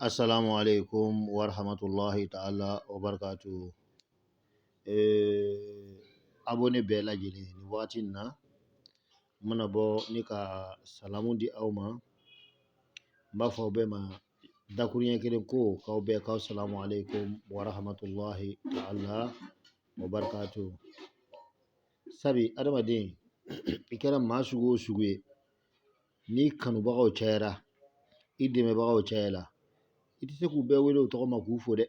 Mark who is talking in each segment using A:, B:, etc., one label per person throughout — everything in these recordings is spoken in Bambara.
A: Assalamu alaikum wa rahmatullahi ta'ala wa barakatuhu. Eh, abone bɛɛ lajɛlen nin wagati in na, n mana bɔ ni ka salamu di aw ma, n b'a fɔ aw bɛɛ ma dakuruɲɛ kelen ko k'aw bɛɛ k'aw salamu alaikum wa rahmatullahi ta'ala wa barakatuhu. Sabi adamaden i kɛra maa sugu o sugu ye, ni kanubagaw cayara i dɛmɛbagaw cayala i tɛ se k'u bɛɛ wele u tɔgɔ ma k'u fo dɛ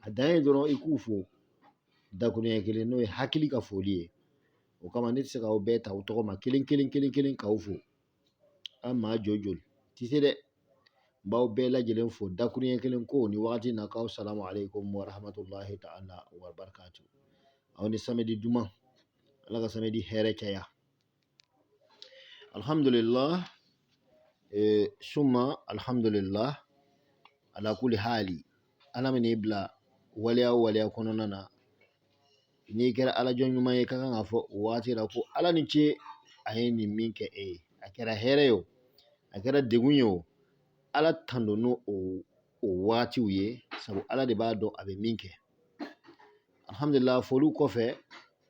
A: a dan ye dɔrɔn i k'u fo dakuruɲɛ kelen n'o ye hakili ka foli ye o kama ne tɛ se k'aw bɛɛ ta u tɔgɔ ma kelen kelen kelen kelen k'aw fo an maa jɔ joli tɛ se dɛ n b'aw bɛɛ lajɛlen fo dakuruɲɛ kelen ko ni wagati in na k'aw salamu aleykum wa rahmatulahi ta'ala wa barakatu aw ni samedi duman ala ka samedi hɛrɛ caya Alhamdulillah e, summa alhamdulillah ala kulli hali ala man'i bila waleya o waleya kɔnɔna na n'i kɛra ala jɔn ɲuman ye ka kan k'a fɔ o waati la ko ala ni ce a ye nin min kɛ e ye a kɛra hɛrɛ ye o a kɛra degun ye o ala tando n'o o o waatiw ye sabu ala de b'a dɔn a bɛ min kɛ alhamdulila foliw kɔfɛ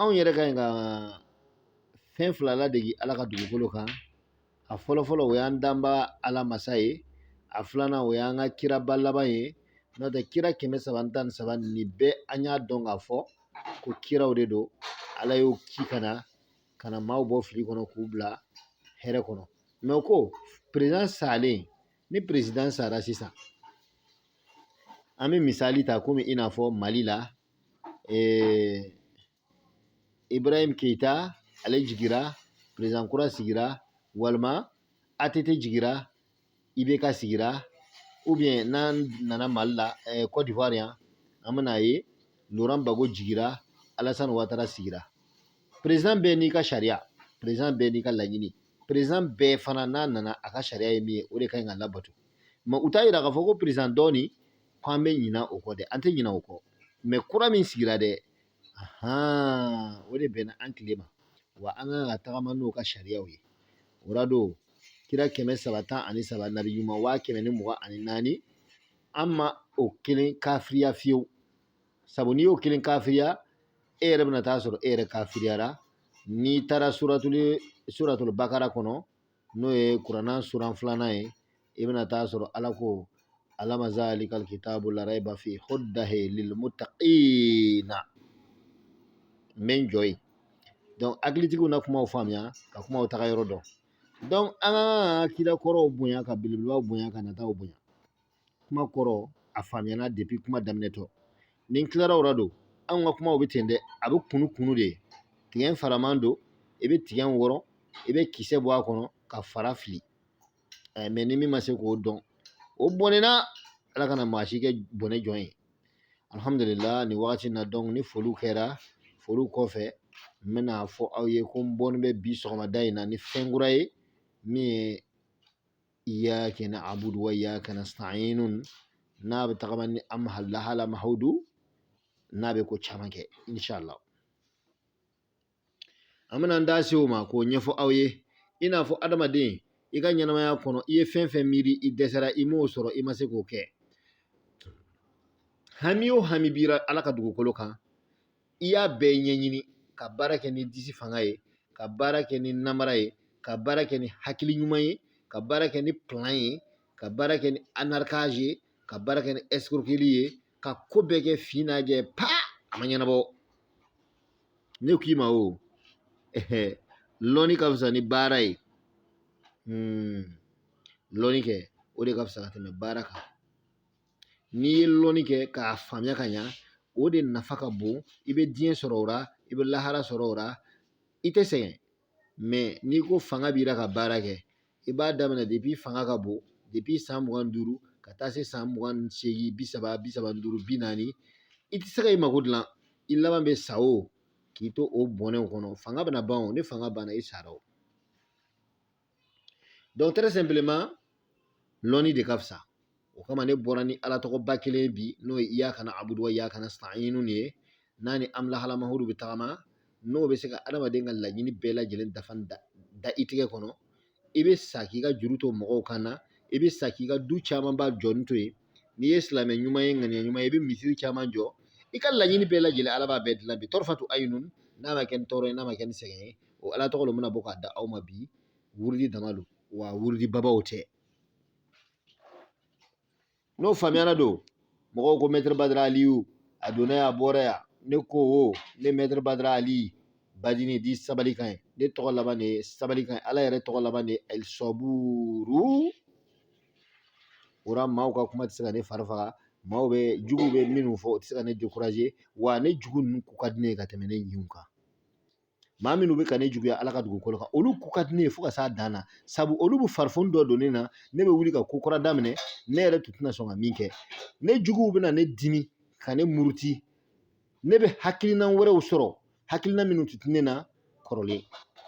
A: anw yɛrɛ ka ɲi ka fɛn fila ladege ala ka dugukolo kan a fɔlɔ fɔlɔ o y'an danba ala masa ye a filanan o y'an ka kiraba laban ye n'o tɛ kira kɛmɛ saba tan ni saba nin bɛɛ an y'a dɔn k'a fɔ ko kiraw de don ala y'u ci ka na ka na maaw bɔ fili kɔnɔ k'u bila hɛrɛ kɔnɔ mɛ ko peresidan salen ni peresidan sara sisan an bɛ misali ta komi i n'a fɔ mali la eh, ibrahim keita ale jigira peresidan kura sigira walima att jigira ibk sigira ubiyɛn n'an nana mali la eh, cote d'ivoire yan an bɛn'a ye laurent gbagbo jigira alasani watara sigira peresidan bɛɛ n'i ka sariya peresidan bɛɛ n'i ka laɲini peresidan bɛɛ fana n'a nana a ka sariya ye min ye o de ka ɲi ka labato mɛ o t'a yira k'a fɔ ko peresidan dɔ nin ko an bɛ ɲina o kɔ dɛ an tɛ ɲina o kɔ mɛ kura min sigira dɛ o de bɛnna an tile ma wa an kan ka tagama n'o ka sariyaw ye o la don kira kɛmɛ saba tan ani saba nabi ɲuman waa kɛmɛ ni mugan ani naani an ma o kelen kafiriya fiyewu sabu n'i y'o kelen kafiriya e yɛrɛ bɛna taa sɔrɔ e yɛrɛ kafiriyara n'i taara suratuli suratuli bakara kɔnɔ n'o ye kuranna suran filanan ye i bɛna taa sɔrɔ ala ko alama zalikal kitabu la raiba fi hudahi lil muttaqina n bɛ n jɔ yen donc hakilitigiw na kumaw faamuya ka kumaw taga yɔrɔ dɔn donc an ka kira kɔrɔw bonya ka belebelebaw bonya ka nataw bonya kuma kɔrɔ a faamuyana depuis kuma daminɛtɔ ni n tilara o la don anw ka kumaw bɛ ten dɛ a bɛ kunu kunu de tigɛ in faraman don i bɛ tigɛ in wɔrɔ i bɛ kisɛ bɔ a kɔnɔ ka fara fili ɛɛ mais ni min ma se k'o dɔn o bɔnɛna ala kana maa si kɛ bɔnɛ jɔn ye alihamudulila nin wagati in na donc ni foliw kɛra foliw kɔfɛ n bɛna fɔ aw ye ko n bɔnen bɛ bi sɔgɔmada in na ni fɛn kura ye min ye iyaka na'budu wa iyaka nasta'inun n'a bɛ tagama ni am halla hala mahaudu n'a bɛ ko caman kɛ insha Allah an bɛna an da se o ma k'o ɲɛfɔ aw ye i n'a fɔ adamaden i ka ɲɛnamaya kɔnɔ i ye fɛn fɛn miiri i dɛsɛra i m'o sɔrɔ i ma se k'o kɛ hami o hami b'i ra ala ka dugukolo kan i y'a bɛɛ ɲɛɲini ka baara kɛ ni disi fanga ye ka baara kɛ ni namara ye ka baara kɛ ni hakili ɲuman ye ka baara kɛ ni plan ye ka baara kɛ ni arnaquage ye ka baara kɛ ni escroquerie ye ka ko bɛɛ kɛ fin n'a jɛ pa a ma ɲɛnabɔ ne k'i ma o lɔnni ka fisa ni baara ye hmm. lɔnni kɛ o de ka fisa ka tɛmɛ baara kan n'i ye lɔnni kɛ k'a faamuya ka ɲa o de nafa ka bon i bɛ diɲɛ sɔrɔ o la i bɛ lahara sɔrɔ o la i tɛ sɛgɛn mais n'i ko fanga b'i la ka baara kɛ i b'a daminɛ depuis fanga ka bon depuis san mugan ni duuru ka taa se san mugan ni seegin bi saba bi saba ni duuru bi naani i tɛ se ka i mako dilan i laban bɛ sa o k'i to o bɔnɛw kɔnɔ fanga bɛna ban o ni fanga banna i sara o Donc très simplement, lɔnni de ka fisa o kama ne bɔra ni ala tɔgɔba kelen bi n'o ye iyaka na'budu wa iyaka nasta'inu ye n'a ni amlahalamahuru bɛ tagama n'o bɛ se ka adamaden ka laɲini bɛɛ lajɛlen dafa da i tigɛ kɔnɔ i bɛ sa k'i ka juru to mɔgɔw kan na i bɛ sa k'i ka du camanba jɔni to yen n'i ye silamɛ ɲuman ye ŋaniya ɲuman ye i bɛ misiri caman jɔ i ka laɲini bɛɛ lajɛlen ala b'a bɛɛ dilan bi tɔrɔfatu ayinun n'a ma kɛ ni tɔɔrɔ ye n'a ma kɛ ni sɛgɛn ye o ala tɔgɔ min bɛna bɔ k'a da aw ma bi wurudi dama don wa wurudi babaw tɛ n'o faamuyara don mɔgɔw ko maître badara aliyu a donna yan a bɔra yan ne ko o ne maître badara aliyu badini dit sabali ka ɲi ne tɔgɔ laban de ye sabali ka ɲi ala yɛrɛ tɔgɔ laban de ye alisɔburu o la maaw ka kuma tɛ se ka ne fari faga maaw bɛ jugu bɛ minnu fɔ o tɛ se ka ne décourager wa ne jugu ninnu ko ka di ne ye ka tɛmɛ ne ɲinw kan maa minnu bɛ ka ne juguya ala ka dugukolo kan olu ko ka di ne ye fo ka s'a dan na sabu olu bɛ farifoni dɔ don ne na ne bɛ wuli ka ko kura daminɛ ne yɛrɛ tun tɛna sɔn ka min kɛ ne juguw bɛna ne dimi ka ne muruti ne bɛ hakilina wɛrɛw sɔrɔ hakilina minnu tun tɛ ne na kɔrɔlen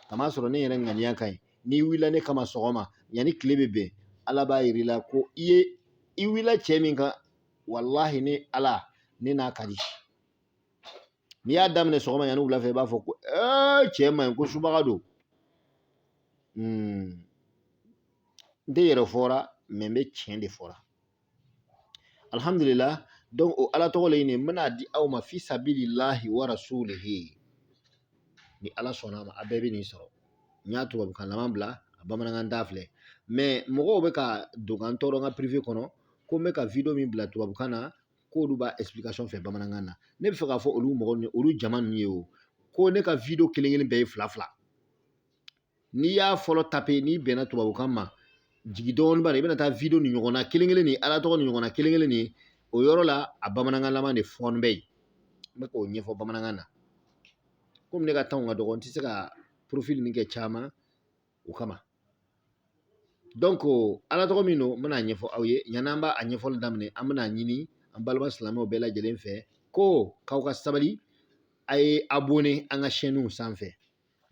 A: k'a masɔrɔ ne yɛrɛ ŋaniya ka ɲi n'i wulila ne kama sɔgɔma yanni tile bɛ bin ala b'a jira i la ko i ye i wulila cɛ min kan walahi ne ala ne n'a ka di n'i y'a daminɛ sɔgɔma yanni wula fɛ i b'a fɔ ko cɛ man ɲi ko subaga don n tɛ yɛrɛ fɔra mais n bɛ tiɲɛ de fɔra alihamudulila o ala tɔgɔ le nin n bɛna di aw ma fi sabililahi wa rasulihi ni ala sɔnna a ma a bɛɛ bɛ nin sɔrɔ n y'a tubabukanlama bila a bamanankan ta filɛ mais mɔgɔw bɛ ka don ka n tɔɔrɔ n ka privé kɔnɔ ko n bɛ ka video min bila tubabukan na k'olu b'a explication fɛ bamanankan na ne bɛ fɛ k'a fɔ olu mɔgɔ ni olu jama ninnu ye o ko ne ka video kelen kelen bɛɛ ye fila fila n'i y'a fɔlɔ taper n'i bɛnna tubabukan ma jigin dɔɔnin bas la i bɛna taa video nin ɲɔgɔn na kelen kelen nin ala tɔgɔ nin ɲɔgɔn na kelen kelen nin o yɔrɔ la a bamanankanlama de fana bɛ yen n bɛ k'o ɲɛfɔ bamanankan na komi ne ka temps ka dɔgɔ n tɛ se ka profil nin kɛ caman o kama donc ala tɔgɔ min don n bɛna a ɲɛfɔ aw ye yanni an b'a a ɲɛfɔli daminɛ an bɛna ɲini an balima silamɛw bɛɛ lajɛlen fɛ ko k'aw ka sabali a ye abonné an ka chaîne sanfɛ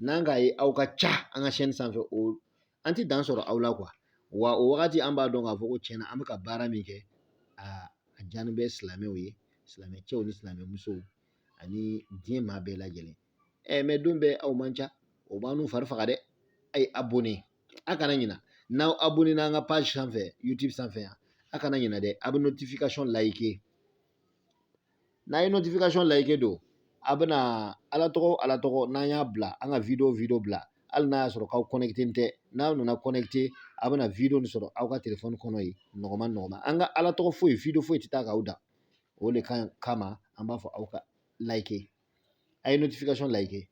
A: n'an k'a ye aw ka ca an ka chaîne sanfɛ o an tɛ dan sɔrɔ aw la quoi wa o wagati an b'a dɔn k'a fɔ ko tiɲɛna an bɛ ka baara min kɛ a diyannen bɛ silamɛw ye silamɛ cɛw ni silamɛ musow ani diɲɛ maa bɛɛ lajɛlen ɛ mais don bɛɛ aw man ca o b'annu fari faga dɛ a ye abonné a kana ɲina n'aw abonnéna an ka page sanfɛ youtube sanfɛ yan a kana ɲina dɛ a bɛ notification liker n'a ye notification liker dɔrɔn a bɛna ala tɔgɔ ala tɔgɔ n'an y'a bila an ka video video bila hali n'a y'a sɔrɔ k'aw connecté tɛ n'aw nana connecté a bɛna video nin sɔrɔ aw ka telefɔni kɔnɔ yen nɔgɔma nɔgɔma an ka ala tɔgɔ foyi video foyi tɛ taa k'aw dan o de kama an b'a fɔ aw ka like a ye notification like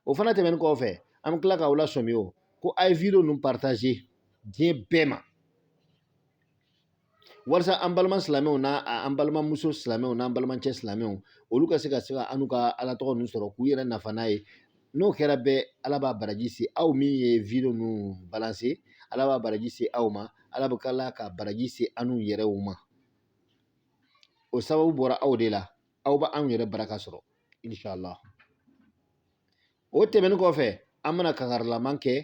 A: o fana tɛmɛnen kɔfɛ an bɛ tila k'aw lasɔmi o ko a ye video ninnu partager diɲɛ bɛɛ ma walasa an balima silamɛw n'an balimamuso silamɛw n'an balimacɛ silamɛw olu ka se ka se ka annu ka ala tɔgɔ ninnu sɔrɔ k'u yɛrɛ nafa n'a ye n'o kɛra bɛɛ ala b'a baraji se aw min ye video ninnu balancer ala b'a baraji se aw ma ala bɛ tila ka baraji se annu yɛrɛw ma o sababu bɔra aw de la aw bɛ anw yɛrɛ baraka sɔrɔ inshallah o tɛmɛnen kɔfɛ an bɛna kankarilama kɛ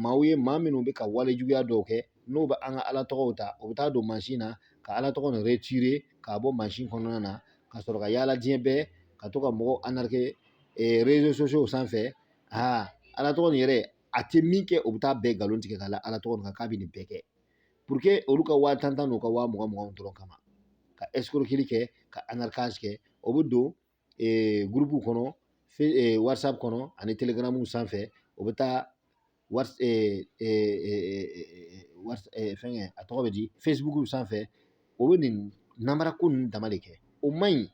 A: maaw ye maa minnu bɛ ka wale juguya dɔw kɛ n'u bɛ an ka ala tɔgɔw ta u bɛ taa don mansin na ka ala tɔgɔ nin retirer k'a bɔ mansin kɔnɔna na ka sɔrɔ ka yaala diɲɛ bɛɛ ka to ka mɔgɔw arnaquer réseaux sociaux sanfɛ aa ala tɔgɔ nin yɛrɛ a tɛ min kɛ u bɛ taa bɛɛ nkalon tigɛ k'a la ala tɔgɔ nin kan k'a bɛ nin bɛɛ kɛ olu ka waa tan tan n'u ka waa mugan mugan dɔrɔn kama ka escroquerie kɛ ka arnaquage kɛ o bɛ don gurupu kɔnɔ whatsapp kɔnɔ ani telegram sanfɛ o bɛ taa fɛnkɛ a tɔgɔ bɛ di facebook sanfɛ o bɛ nin namara ko ninnu dama de kɛ o man ɲi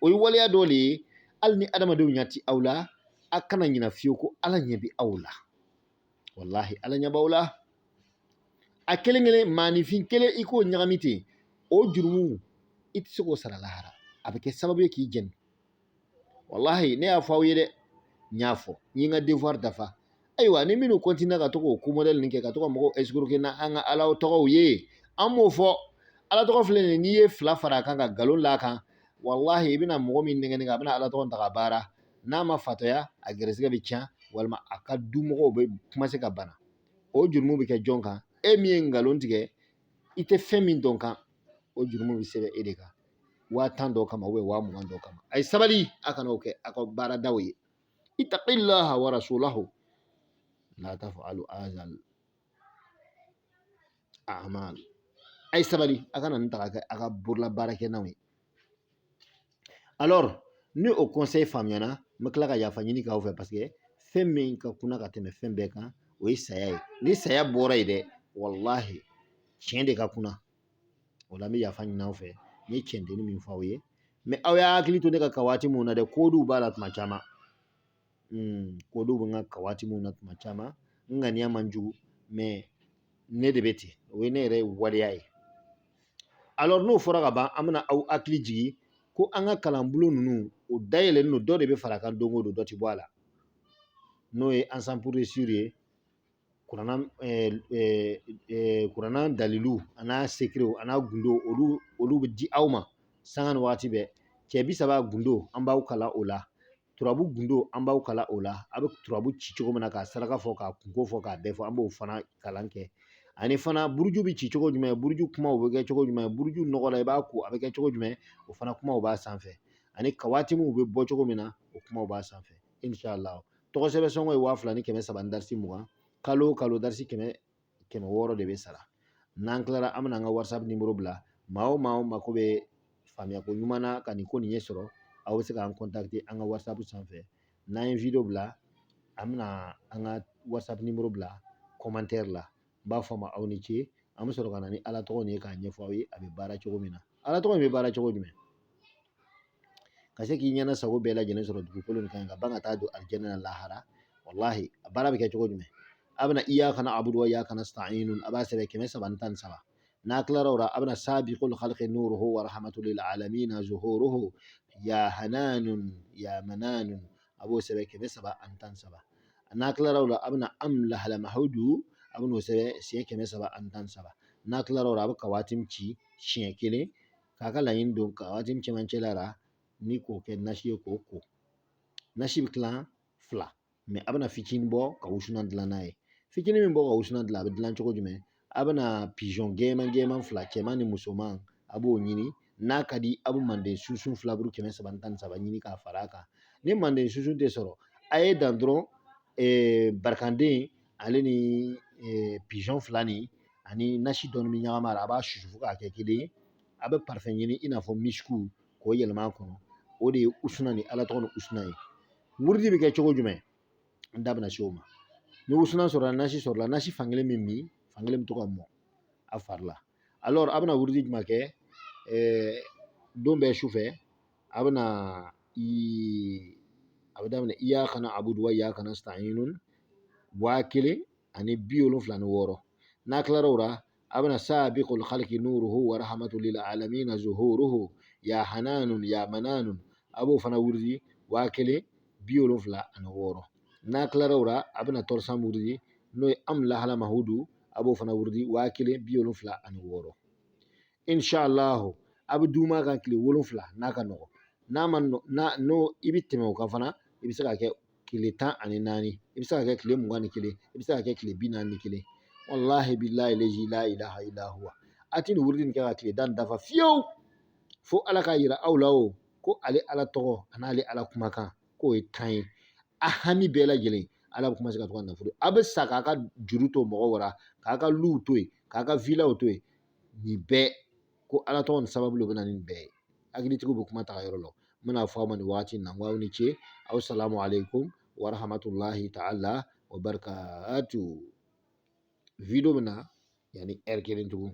A: o ye waleya dɔ de ye hali ni adamadenw ɲɛ ti aw la a kana ɲina fiyewu ko ala ɲɛ bi aw la walahi ala ɲɛ b'aw la a kelen kelen maanifin kelen i k'o ɲagami ten o jurumu i tɛ se k'o sara lahara a bɛ kɛ sababu ye k'i jeni walahi ne y'a fɔ aw ye dɛ n y'a fɔ n ye n ka devoir dafa ayiwa ni minnu kɔntinna ka to k'o ko modɛli nin kɛ ka to ka mɔgɔw escroquer n'an ka ala tɔgɔw ye an m'o fɔ ala tɔgɔ filɛ nin n'i ye fila fara a kan ka nkalon la a kan walahi i bɛna mɔgɔ min nɛgɛnɛgɛ a bɛna ala tɔgɔ ta ka baara n'a ma fatɔya a gɛrɛsɛgɛ bɛ tiɲɛ walima a ka dumɔgɔw bɛ commencer ka bana o jurumu bɛ kɛ jɔn kan e min ye nkalon tigɛ i tɛ fɛn min dɔn kan o jurumu bɛ sɛbɛn e de kan waa tan dɔ kama ou bien waa mugan dɔ kama a ye sabali a kana o kɛ a ka baaradaw ye ittaqillaha wa rasulahu la taf'alu azal a'mal a ye sabali a kana nin ta ka kɛ a ka bololabaarakɛlan ye alors ni o conseil faamuyana n bɛ tila ka yafa ɲini k'aw fɛ parce que fɛn min ka kunna ka tɛmɛ fɛn bɛɛ kan o ye saya ye ni saya bɔra yen dɛ walahi tiɲɛ de ka kunna o la n bɛ yafa ɲini aw fɛ n ye tiɲɛdennin min fɔ aw ye mais aw y'a hakili to ne ka kawatimu na dɛ koduw b'a la tuma caman koduw bɛ n ka kawatimuw na tuma caman n ŋaniya man jugu mais ne de bɛ ten o ye ne yɛrɛ waleya ye alors n'o fɔra ka ban an bɛna aw hakili jigin ko an ka kalanbulon ninnu o dayɛlɛlen don dɔ de bɛ fara a kan don o don dɔ tɛ bɔ a la n'o ye ensemble pour réussir ye kuranna dalilu a n'a secret a n'a gundo olu bɛ di aw ma sanga ni waati bɛɛ cɛ bi saba gundo an b'aw kalan o la turabu gundo an b'aw kalan o la a bɛ turabu ci cogo min na k'a saraka fɔ k'a kunko fɔ k'a bɛɛ fɔ an b'o fana kalan kɛ ani fana buruju bɛ ci cogo jumɛn buruju kumaw bɛ kɛ cogo jumɛn buruju nɔgɔ la i b'a ko a bɛ kɛ cogo jumɛn o fana kumaw b'a sanfɛ ani kawatimuw bɛ bɔ cogo min na o kumaw b'a sanfɛ inshallah tɔgɔ sɛbɛn sɔngɔ ye waa fila ni kɛmɛ saba ni darisi mugan kalo o kalo darisi kɛmɛ kɛmɛ wɔɔrɔ de bɛ sara n'an kilara an bɛna an ka whatsapp nimoro bila maa o maa mako bɛ faamuyako ɲuman na ka nin ko nin ɲɛsɔrɔ aw bɛ se k'an contacter an ka whatsapp sanfɛ n'an ye wideyo bila an bɛna an ka whatsapp nimoro bila kɔmantɛri la n b'a fɔ aw ma aw ni ce an bɛ sɔrɔ ka na ni ala tɔgɔ nin ye k'a ɲɛfɔ aw ye a bɛ baara cogo min na ala tɔgɔ in bɛ baara cogo jumɛn ka se k'i ɲɛna sago bɛɛ lajɛlen sɔrɔ dugukolo nin kan ka ban ka taa don alijɛnɛ na lahara walahi a baara bɛ kɛ cogo jumɛn a bɛna iyaka na'budu wa iyaka nasta'inu a b'a sɛbɛn kɛmɛ saba ni tan ni saba n'a tilara o la a bɛna sabiqul khalqi nuruhu wa rahmatul lil alamin zuhuruhu ya hananun ya mananun a b'o sɛbɛn kɛmɛ saba ani tan ni saba n'a tilara o la a bɛna am lahala mahudu a bɛna o sɛbɛn siɲɛ kɛmɛ saba ani tan ni saba n'a tilara o la a bɛ kawatim ci siɲɛ kelen k'a ka laɲini don kawatim cɛmancɛ la ni k'o kɛ nasi ye k'o ko nasi bɛ kilan fila mɛ a bɛna fitinin bɔ ka wusulan dilan n'a ye fitinin min bɔ ka wusulan dilan a bɛ dilan cogo jumɛn a bɛna pizɔn gɛnman gɛnman fila cɛman ni musoman a b'o ɲini n'a ka di a bɛ manden sunsun filaburu kɛmɛ saba ni tan ni saba ɲini k'a fara a kan ni manden sunsun tɛ sɔrɔ a ye dan dɔrɔn barikanden ale ni pizɔn fila nin ani nasi dɔɔni bɛ ɲagami a la a b'a susu fo k'a kɛ kelen ye a bɛ parfum ɲini i n'a fɔ misiku k'o yɛlɛma a kɔnɔ o de ye wusulan ni ala tɔgɔ nin wusulan ye wurudi bɛ kɛ cogo jumɛn n da bɛna se o ma ni wusulan sɔrɔla nasi sɔrɔla nasi fankelen bɛ min fankelen bɛ to ka mɔn a fari la alors a bɛna wurudi jumɛn kɛ don bɛɛ su fɛ a bɛna a bɛ daminɛ iyaka na'budu wa iyaka nasta'inu waa kelen ani bi wolonfila ni wɔɔrɔ n'a kilara o la a bɛna sabiqul khalqi nuruhu wa rahmatul lil alamin zuhuruhu ya hananun ya mananun a b'o fana wurudi waa kelen bi wolonfila ani wɔɔrɔ n'a kilara o la a bɛna troisième wurudi n'o ye amu lahala mahudu a b'o fana wurudi waa kelen bi wolonfila ani wɔɔrɔ inshallahu a bɛ duma a kan tile wolonfila n'a ka nɔgɔn a ma n'o i bɛ tɛmɛ o kan fana i bɛ se ka kɛ tile tan ani naani i bɛ se ka kɛ tile mugan ni kelen i bɛ se ka kɛ tile bi naani ni kelen walahi bilahi lazi la ilaha illa huwa a tɛ nin wurudi in kɛ ka tile tan dafa fiyewu fo ala k'a yira aw la o ko ale ala tɔgɔ ani ale ala kumakan k'o ye tiɲɛ ye a hami bɛɛ lajɛlen ala bɛ commencer ka to ka nafolo a bɛ sa k'a ka juru to mɔgɔ wɛrɛ k'a ka luw to yen k'a ka vilaw to yen nin bɛɛ ko ala tɔgɔ nin sababu de bɛ na nin bɛɛ ye hakilitigiw bɛ kuma taa yɔrɔ lɔn n bɛna fɔ aw ma nin waati in na aw ni ce assalamu alaikum wa rahmatullahi ta'ala wa barakatu wideyo bɛ na yanni ɛri kelen tugun